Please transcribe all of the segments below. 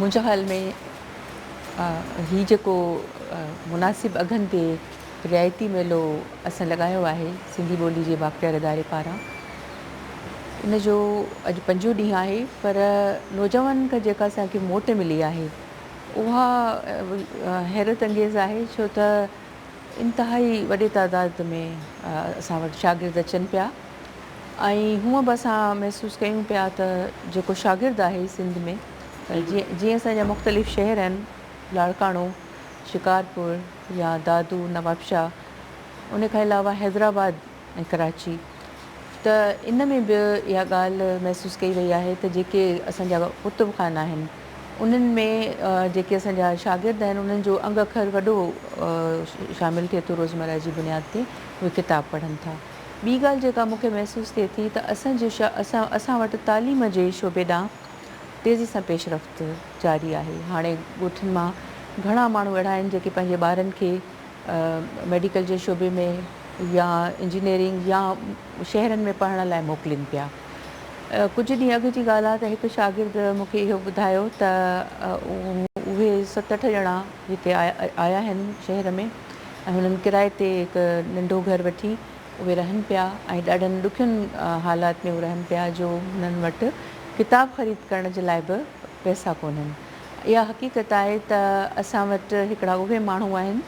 منهنجي خيال ۾ هي جيڪو مناسب اگهن تي رعايتي ميلو اسان لڳايو آهي سنڌي ٻولي جي بااختيار اداري پاران ان جو اڄ پنجون ڏينهن آهي پر نوجوانن کان جيڪا اسانکي موٽ ملي آهي اها حيرت انگيز آهي ڇو ته انتهائي وڏي تعداد ۾ اسان وٽ شاگرد اچن پيا ۽ هونئن به اسان محسوس ڪيون پيا ته جيڪو شاگرد آهي سنڌ ۾ جيئن اسان جا مختلف شهر آهن لاڙڪاڻو، شڪارپور يا دادو، نوابشاهه ان کان علاوه حيدرآباد ۽ ڪراچي ته ان ۾ به اها ڳالهه محسوس ڪئي وئي آهي ته جيڪي اسان جا ڪتب خانا آهن انهن ۾ جيڪي اسان جا شاگرد آهن انهن جو انگ اکر وڏو شامل ٿئي ٿو روزمره جي بنياد تي اهي ڪتاب پڙهن ٿا. ٻي ڳالهه جيڪا مون کي محسوس ٿئي ٿي ته اسان جي اسان اسان وٽ تعليم جي شعبي ڏانهن تيزي سان پيش رفت جاري آهي هاڻي ڳوٺن مان گهڻا ماڻهو اهڙا آهن جيڪي پنهنجي ٻارن کي ميڊيڪل جي شعبي ۾ يا انجنيئرنگ يا شهرن ۾ پڙهڻ لاء موڪلين پيا ڪجهه ڏينهن اڳ جي ڳالهه آهي ته هڪ شاگرد مون کي اهو ٻڌايو ته اهي ست اٺ ڄڻا هتي آيا آهن شهر ۾ ۽ هنن ڪرائي تي هڪ ننڍو گهر وٺي اهي رهن پيا ۽ ڏاڍن ڏکين حالات ۾ اهي رهن پيا جو هنن وٽ ڪتاب خريد ڪرڻ جي لاء به پئسا ڪونهن. اها حقيقت آهي ته اسان وٽ هڪڙا اهي ماڻهو آهن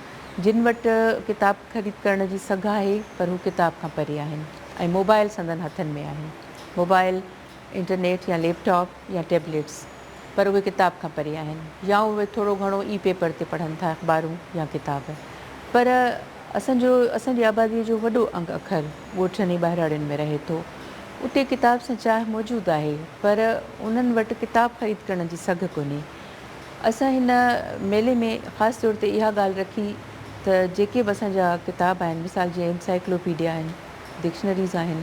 جن وٽ ڪتاب خريد ڪرڻ جي سگهه آهي پر هو ڪتاب کان پري آهن ۽ موبائل سندن هٿن ۾ آهي. موبائل انٽرنيٽ يا ليپ ٽاپ يا ٽيبليٽس پر اهي ڪتاب کان پري آهن يا اهي ٿورو گهڻو ئي پيپر تي پڙهن ٿا اخبارون يا ڪتاب پر اسان جو اسان جي آبادي جو وڏو انگ اکر ڳوٺن ۽ ٻهراڙين ۾ رهي ٿو اتي ڪتاب سان چاهه موجود آهي پر انهن وٽ ڪتاب خريد ڪرڻ جي سگهه ڪونهي اسان هن ميلي ۾ خاص طور تي اها ڳالهه رکي ته جيڪي به اسان جا ڪتاب آهن مثال جيئن انسائيڪلوپيڊيا آهن ڊڪشنريز آهن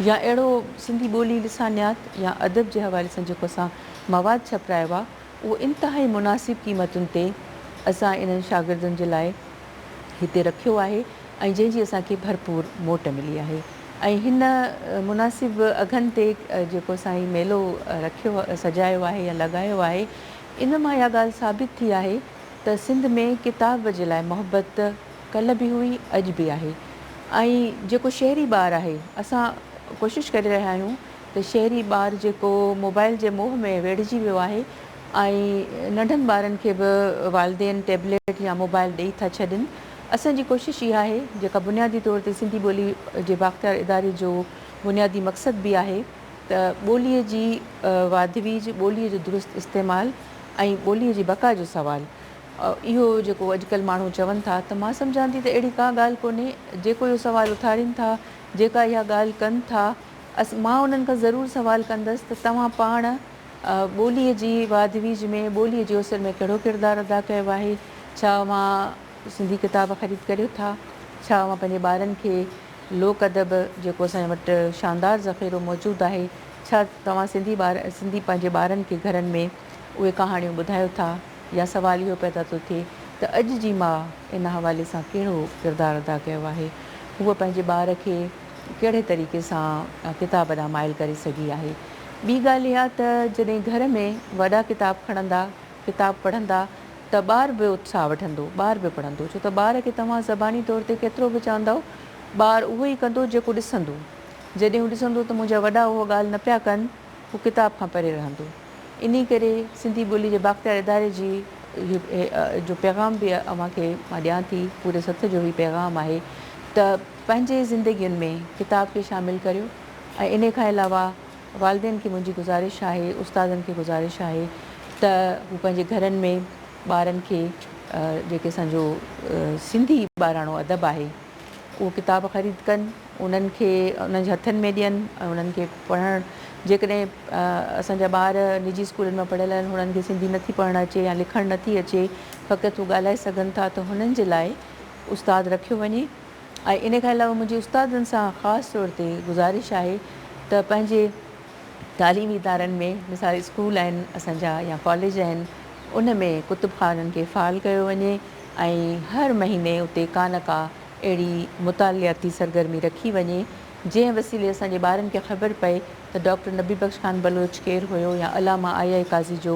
يا اهڙو سنڌي ٻولي، لسانيات يا ادب جي حوالي سان جيڪو اسان مواد ڇپرايو آهي اهو انتهائي مناسب قيمتن تي اسان انهن شاگردن جي لاء هتي رکيو آهي ۽ جنهن جي اسان کي ڀرپور موٽ ملي آهي ۽ هن مناسب اگهن تي جيڪو اسان هي ميلو رکيو سجايو آهي يا لڳايو آهي ان مان اها ڳالهه ثابت ٿي آهي ته سنڌ ۾ ڪتاب جي لاء محبت ڪلهه به هئي اڄ به آهي ۽ جيڪو شهري ٻار آهي اسان ڪوشش ڪري رهيا آهيون ته شهري ٻار جيڪو موبائل جي موهه ۾ ويڙهجي ويو آهي ۽ ننڍن ٻارن کي به والدين ٽيبليٽ يا موبائل ڏئي ٿا ڇڏين اسان جي ڪوشش اها آهي جيڪا بنيادي طور تي سنڌي ٻولي جي بااختيار اداري جو بنيادي مقصد به آهي ته ٻولي جي واڌويج ٻولي جو درست استعمال ۽ ٻولي جي بقا جو سوال اهو جيڪو اڄڪلهه ماڻهو چون ٿا ته مان سمجهان ٿي ته اهڙي ڪا ڳالهه ڪونهي، جيڪو اهو سوال اٿارين ٿا، جيڪا اها ڳالهه ڪن ٿا، اس مان انهن کان ضرور سوال ڪندس ته توهان پاڻ ٻوليء جي واڌويجهه ۾ ٻوليء جي اوسر ۾ ڪهڙو ڪردار ادا ڪيو آهي؟ ڇا اوهان سنڌي ڪتاب خريد ڪريو ٿا؟ ڇا اوهان پنهنجي ٻارن کي لوڪ ادب جيڪو اسان وٽ شاندار ذخيرو موجود آهي، ڇا توهان سنڌي ٻار سنڌي پنهنجي ٻارن کي گهرن ۾ اهي ڪهاڻيون ٻڌايو ٿا؟ يا سوال اهو پيدا ٿو ٿئي ته اڄ جي ماء ان حوالي سان ڪهڙو ڪردار ادا ڪيو آهي؟ هوء پنهنجي ٻار کي ڪهڙي طريقي سان ڪتاب ڏانهن مائل ڪري سگهي آهي؟ ٻي ڳالهه اها ته جڏهن گهر ۾ وڏا ڪتاب کڻندا، ڪتاب پڙهندا ته ٻار به اتساهه وٺندو، ٻار به پڙهندو ڇو ته ٻار کي توهان زباني طور تي ڪيترو به چوندؤ ٻار اهو ئي ڪندو جيڪو ڏسندو. جڏهن هو ڏسندو ته منهنجا وڏا اهو ڳالهه نه پيا ڪن، هو ڪتاب کان پري رهندو. انهي ڪري سنڌي ٻولي جي بااختيار اداري جي جو پيغام به اوهان کي مان ڏيان ٿي پوري سٿ جو هي پيغام آهي ته پنهنجي زندگين ۾ ڪتاب کي شامل ڪريو ۽ انهي کان علاوه والدين کي منهنجي گذارش آهي استادن کي گذارش آهي ته هو پنهنجي گهرن ۾ ٻارن کي جيڪي اسان جو سنڌي ٻاراڻو ادب آهي اهو ڪتاب خريد ڪن، انهن کي انهن جي هٿن ۾ ڏين ۽ انهن کي پڙهڻ جيڪڏهن اسان جا ٻار نجي اسڪولن مان پڙهيل آهن هنن کي سنڌي نٿي پڙهڻ اچي يا لکڻ نٿي اچي فقط هو ڳالهائي سگهن ٿا ته هنن جي لاء استاد رکيو وڃي ۽ ان کان علاوه منهنجي استادن سان خاص طور تي گذارش آهي ته پنهنجي تعليمي ادارن ۾ مثال اسڪول آهن اسان جا يا ڪاليج آهن ان ۾ ڪتب خانن کي فعال ڪيو وڃي ۽ هر مهيني اتي ڪا نه ڪا اهڙي مطالعاتي سرگرمي رکي وڃي جنهن وسيلي اسان جي ٻارن کي خبر پئي ته ڊاڪٽر نبي بخش خان بلوچ ڪير هيو يا علامه آء آء قاضي جو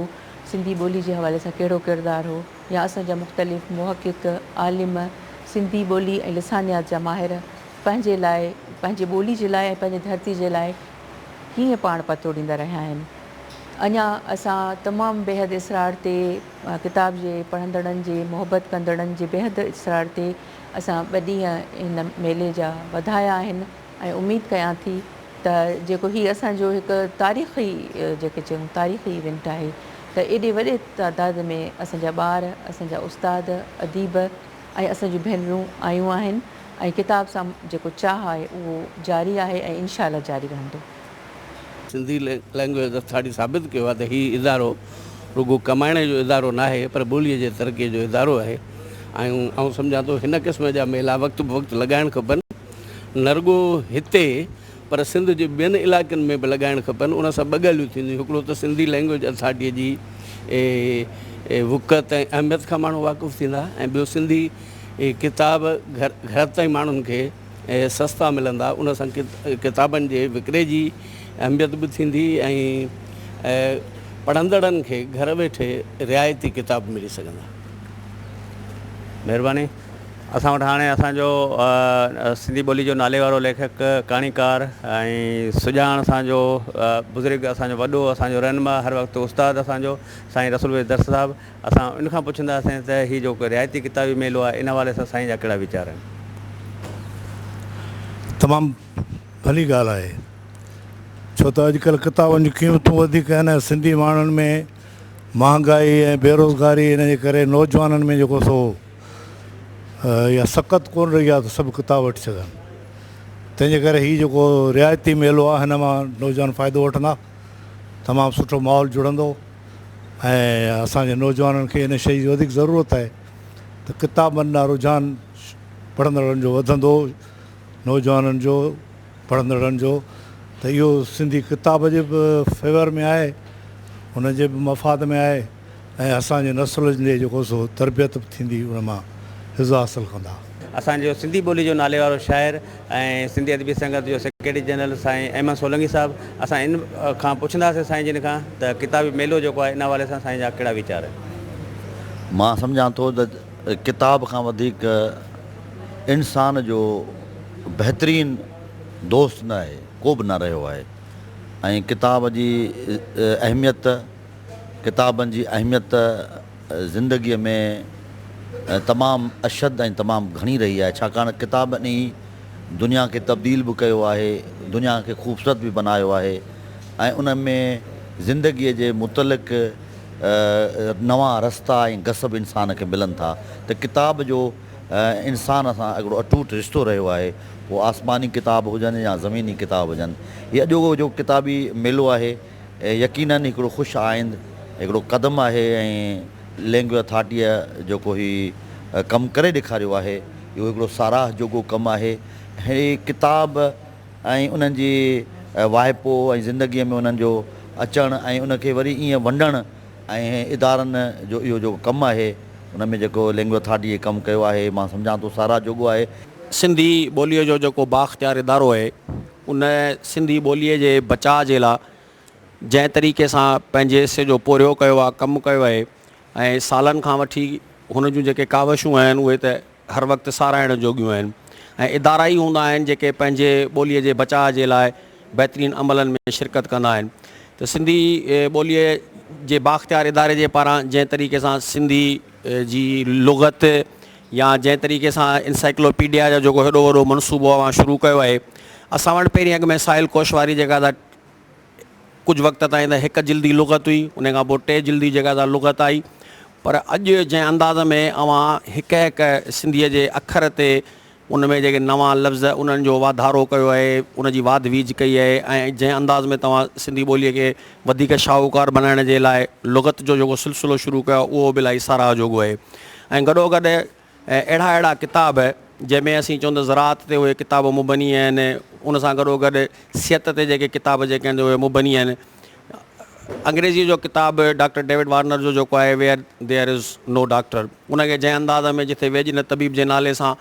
سنڌي ٻولي جي حوالي سان ڪهڙو ڪردار هو يا اسان جا مختلف محقق عالم سنڌي ٻولي ۽ لسانيات جا ماهر پنهنجي لاء پنهنجي ٻولي جي لاء ۽ پنهنجي ڌرتي جي لاء ڪيئن پاڻ پتوڙيندا رهيا آهن اڃا اسان تمام بيحد اسرار تي ڪتاب جي پڙهندڙن جي محبت ڪندڙن جي بيحد اصرار تي اسان ٻه ڏينهن هن ميلي جا وڌايا آهن ۽ اميد ڪيان ٿي ته جيڪو هي اسان جو هڪ تاريخي جيڪي چئون تاريخي ايونٽ آهي ته ايڏي وڏي تعداد ۾ اسان جا ٻار اسان جا استاد اديب ۽ اسان جون ڀينرون آيون آهن ۽ ڪتاب سان جيڪو چاهه آهي اهو جاري آهي ۽ انشاء الله جاري رهندو. سنڌي لئنگويج اٿارٽي ثابت ڪيو آهي ته هي ادارو رڳو ڪمائڻي جو ادارو ناهي پر ٻوليء جي ترقيء جو ادارو آهي ۽ آئون سمجهان ٿو هن قسم جا ميلا وقت بوقت لڳائڻ کپن نه رڳو هتي پر سنڌ جي ٻين علائقن ۾ به لڳائڻ کپن ان سان ٻه ڳالهيون ٿينديون هڪڙو ته سنڌي لئنگويج اٿارٽيء جي وقعت ۽ اهميت کان ماڻهو واقف ٿيندا ۽ ٻيو سنڌي ڪتاب گهر گهر تائين ماڻهن کي اهي سستا ملندا، ان سان ڪتابن جي وڪري جي اهميت به ٿيندي ۽ پڙهندڙن کي گهر ويٺي رعايتي ڪتاب ملي سگهندا. مهرباني. اسان وٽ هاڻي اسان جو سنڌي ٻولي جو نالي وارو ليکڪ، ڪهاڻيڪار ۽ سڄاڻ اسان جو بزرگ، اسان جو وڏو، اسان جو رهنما، هر وقت استاد اسان جو سائين رسول ويس درس صاحب اسان ان کان پڇنداسين ته هي جيڪو رعايتي ڪتابي ميلو آهي ان حوالي سان سائين جا ڪهڙا ويچار آهن؟ تمام ڀلي ڳالهه آهي ڇو ته اڄڪلهه ڪتابن جون قيمتون وڌيڪ آهن ۽ سنڌي ماڻهن ۾ مهانگائي ۽ بيروزگاري ان جي ڪري نوجوانن ۾ جيڪو سو اها سڪت ڪونه رهي آهي ته سڀ ڪتاب وٺي سگهن تنهنجي ڪري هي جيڪو رعايتي ميلو آهي هن مان نوجوان فائدو وٺندا تمام سٺو ماحول جڙندو ۽ اسان جي نوجوانن کي ان شيء جي وڌيڪ ضرورت آهي ته ڪتابن ڏانهن رجحان پڙهندڙن جو وڌندو نوجوانن جو پڙهندڙن جو ته اهو سنڌي ڪتاب جي به فيور ۾ آهي ان جي به مفاد ۾ آهي ۽ اسان جي نسل جي جيڪو سو تربيت به ٿيندي ان مان عزت حاصل ڪندا. اسان جو سنڌي ٻولي جو ناليوارو شاعر ۽ سنڌي ادبي سنگت جو سيڪريٽري جنرل سائين احمد سولنگي صاحب اسان ان کان پڇنداسين سائين جن کان ته ڪتابي ميلو جيڪو آهي ان حوالي سان سائين جا ڪهڙا ويچار آهن. مان سمجهان ٿو ته ڪتاب کان وڌيڪ انسان جو بهترين دوست نه آهي ڪو به نه رهيو آهي ۽ ڪتاب جي اهميت ڪتابن جي اهميت ته زندگيء ۾ تمام اشد ۽ تمام گهڻي رهي آهي، ڇاڪاڻ ڪتابن ئي دنيا کي تبديل به ڪيو آهي، دنيا کي خوبصورت به بنايو آهي ۽ ان ۾ زندگيء جي متعلق نوان رستا ۽ گس به انسان کي ملن ٿا ته ڪتاب جو انسان سان هڪڙو اٽوٽ رشتو رهيو آهي، پوء آسماني ڪتاب هجن يا زميني ڪتاب هجن. هي اڄوڪو جو ڪتابي ميلو آهي. يقينن هڪڙو خوش آئند هڪڙو قدم آهي ۽ لينگوا اٿارٽيء جيڪو هي ڪم ڪري ڏيکاريو آهي اهو هڪڙو ساراهه جوڳو ڪم آهي. هي ڪتاب ۽ انهن جي واهپو ۽ زندگيء ۾ انهن جو اچڻ ۽ ان کي وري ائين ونڊڻ ۽ ادارن جو اهو جيڪو ڪم آهي ان ۾ جيڪو لينگوا اٿارٽيء هي ڪم ڪيو آهي مان سمجهان ٿو ساراهه جوڳو آهي. سنڌي ٻوليء جو جيڪو بااختيار ادارو آهي. ان سنڌي ٻوليء جي بچاء جي لا جنهن طريقي سان پنهنجي حصي جو پورهيو ڪيو آهي ڪم ڪيو آهي ۽ سالن کان وٺي هن جون جيڪي ڪاوشون آهن اهي ته هر وقت ساراهڻ جوڳيون آهن ۽ ادارا ئي هوندا آهن جيڪي پنهنجي ٻوليء جي بچاء جي لاء بهترين عملن ۾ شرڪت ڪندا آهن ته سنڌي ٻوليء جي بااختيار اداري جي پاران جنهن طريقي سان سنڌي جي لغت يا جنهن طريقي سان انسائيڪلوپيڊيا جو جيڪو هيڏو وڏو منصوبو اوهان شروع ڪيو آهي اسان وٽ پهرين اڳ ۾ ساحل ڪوشواري جيڪا ته ڪجهه وقت تائين ته هڪ جلدي لغت هئي ان کان پوء ٽي جلدي جيڪا ته لغت آئي پر اڄ جنهن انداز ۾ اوهان هڪ هڪ سنڌيء جي اکر تي ان ۾ جيڪي نوان لفظ انهن جو واڌارو ڪيو آهي، ان جي واڌ ويجهه ڪئي آهي ۽ جنهن انداز ۾ توهان سنڌي ٻوليء کي وڌيڪ شاهوڪار بنائڻ جي لاء لغت جو جيڪو سلسلو شروع ڪيو آهي اهو به الاهي ساراهه جوڳو آهي ۽ گڏو گڏ اهڙا اهڙا ڪتاب جنهن ۾ اسين چون ته زراعت تي اهي ڪتاب مبني آهن ان سان گڏو گڏ صحت تي جيڪي ڪتاب جيڪي آهن اهي مبني آهن. انگريزيء جو ڪتاب ڊاڪٽر ڊيوڊ وارنر جو جيڪو آهي Where There Is No Doctor ان کي جنهن انداز ۾ جٿي ويڄ نه طبيب جي نالي سان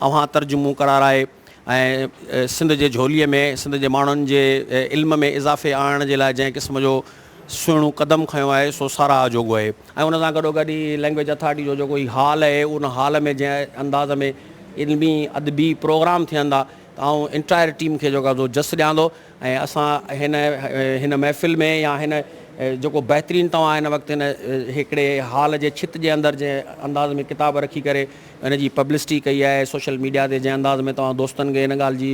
اوهان ترجمو ڪرارائي ۽ سنڌ جي جهوليء ۾ سنڌ جي ماڻهن جي علم ۾ اضافي آڻڻ جي لاء جنهن قسم جو سهڻو قدم کنيو آهي سو ساراهه جوڳو آهي ۽ ان سان گڏوگڏ هي لينگويج اٿارٽي جو جيڪو هي هال آهي ان هال ۾ جنهن انداز ۾ علمي ادبي پروگرام ٿيندا ته آئون انٽائر ٽيم کي جيڪو آهي سو جس ڏيان ٿو. ۽ اسان هن هن محفل ۾ يا هن جيڪو بهترين توهان هن وقت هن هڪڙي هال جي ڇت جي اندر جنهن انداز ۾ ڪتاب رکي ڪري ان جي پبلسٽي ڪئي آهي سوشل ميڊيا تي جنهن انداز ۾ توهان دوستن کي هن ڳالهه جي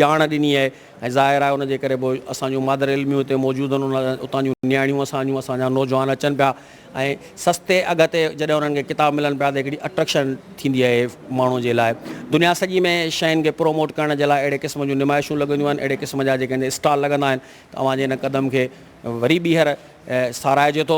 ڄاڻ ڏني آهي ۽ ظاهر آهي ان جي ڪري به اسان جون مادر علميون هتي موجود آهن اتان جون نياڻيون اسان جون اسان جا نوجوان اچن پيا ۽ سستي اگهه تي جڏهن انهن کي ڪتاب ملن پيا ته هڪڙي اٽريڪشن ٿيندي آهي ماڻهو جي لاء دنيا سڄي ۾ شين کي پروموٽ ڪرڻ جي لاء اهڙي قسم جون نمائشون لڳنديون آهن اهڙي قسم جا جيڪي اسٽال لڳندا آهن ته اوهان جي ان قدم کي وري ٻيهر ساراهجي ٿو.